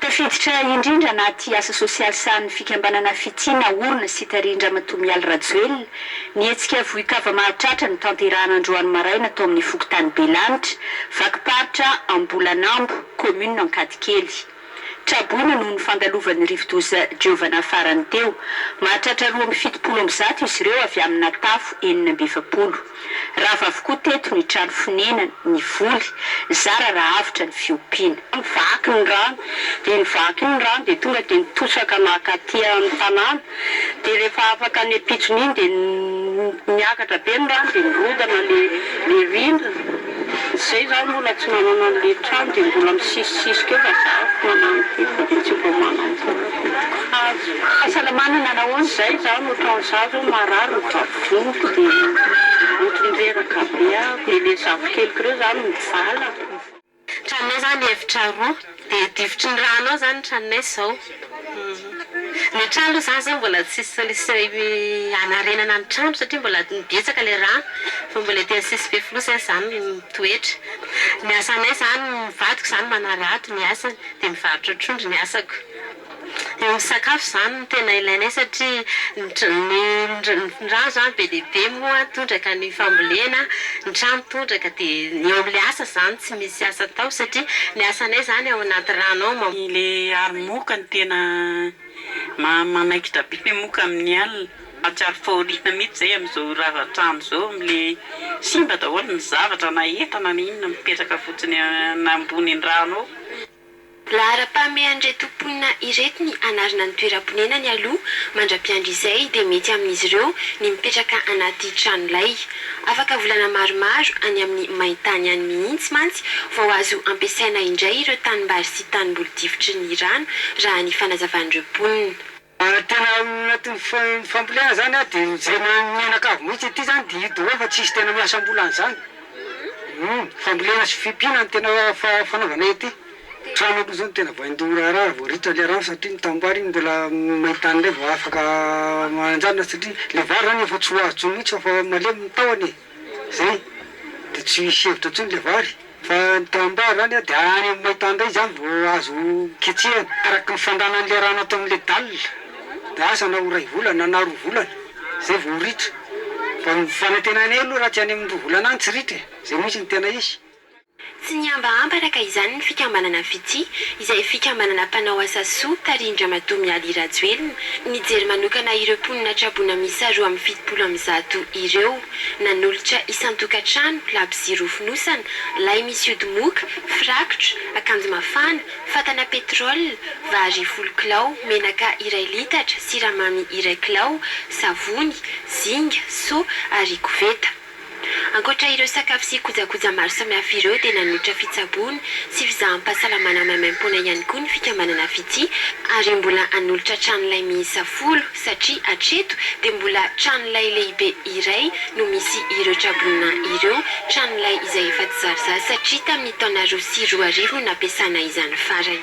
Tafiditra indrindra anaty asa sosialy sahanin'ny fikambanana Fitia naorina sy tarihin-dRamatoa Mialy Rajoelina ny hetsika vohikava mahatratra notanterahana androany maraina tao amin'ny fokontany Belanitra, vakim-paritra Ambolanambo, kaominina Ankadikely. Traboina noho ny fandalovan'ny rivodoza Giovanna farany teo. Mahatratra roa amby fitopolo amby zato izy ireo avy amina tafo enina amby efapolo. Rava avokoa teto ny trano fonenana, ny voly, zara raha avotra ny fiompiana. Nivaky ny rano, dia nivaky iny ny rano dia tonga dia nitosaka naka aty amin'ny tanàna, dia rehefa afaka ny ampitson'iny dia niakatra be ny rano dia nirodana ilay rindrina. Izay izaho mbola tsy nanana an'ilay trano dia mbola misisisisy kely fa izaho efa manana ity fa dia tsy vao manana taona vintiko haja e. Fahasalamana nanao ahoana? Izay izaho no trano izaho izao marary ny vavolombiko dia ohatran'ny reraka be aho dia ilay zafikeliko ireo izany no mivalana. Tranonay izany efitra roa Dia difotry ny rano ao zany ny tranonay izao. Ny trano aloha zany zao mbola tsisy solution hanarenana ny trano satria mbola betsaka ilay rà fa mbola ety an'Sisy be fonosy aza zany no mitoetra. Ny asanay zany, ny vadiko zany manarato ny asany dia mivarotra trondro ny asako. Ny sakafo izany no tena ilainay satria ny rano izany be dia be moa tondraka ny fambolena, ny trano tondraka dia ny eo amin'ilay asa izany tsy misy asa atao satria ny asanay izany ao anaty rano ao. Ilay aro moka no tena manaikitra be ilay moka amin'ny alina. Mahatsiaro fahoriana mihitsy izay amin'izao rava trano izao amin'ilay simba daholo ny zavatra na entana na inona mipetraka fotsiny ambony rano ao. Laharam-pahamehan'ireto mponina ireto ny hanarina ny toeram-ponenany aloha mandra-piandry izay dia mety amin'izy ireo ny mipetraka anaty tranolay. Afaka volana maromaro any amin'ny main-tany any mihitsy mantsy vao azo ampiasaina indray ireo tanimbary sy tanimboly difotry ny rano raha ny fanazavan'ireo mponina. Ary tena anatin'ny fambolena zany an dia mijery ny mianakavy mihitsy, ity zany dia io daholo fa tsisy tena miasa am-bola an'izany, humm, fambolena sy fiompiana no tena fanaovana ety, trano aloha zao no tena vain-doha raharaha vao ritra le rano satria ny tanimbary iny mbola main-tany indray vao afaka mananjanona satria le vary zany efa tsy ho azo intsony mihitsy fa efa malemy ny tahony e! Zay de tsy misy hevitra intsony le vary fa ny camembert zany dia any amin'ny maintany indray zany vao azo ketsehina araky ny fandanany le rano ato amin'le dalle na asa na ho ray volana na roa volana zay vao ritra fa ny fanantenanay aloha raha tsy any amin'ny roa volana any tsy ritra e, zay mihitsy no tena izy. Tsy nihambahamba araka izany ny fikambanana Fitia, izay fikambanana mpanao asa soa tarihin-dRamatoa Mialy Rajoelina, nijery manokana ireo mponina traboina miisa roa amby fitopolo amby zato ireo. Nanolotra isan-tokantrano, labozia roa fonosana, lay misy ody moka, firakitra, akanjo mafana, fatana pétrole, vary folo kilao, menaka iray litatra, siramamy iray kilao, savony, zinga, seau ary koveta. Ankoatra ireo sakafo sy kojakoja maro samihafa ireo dia nanolotra fitsaboana sy fizaham-pahasalamana maimaimpoana ihany koa ny fikambanana Fitia ary mbola hanolotra tranolay miisa folo satria hatreto dia mbola tranolay lehibe iray no misy ireo trabolona ireo, tranolay izay efa tsy zary zaza satria tamin'ny taona roa sy roa arivo no nampiasana izany farany.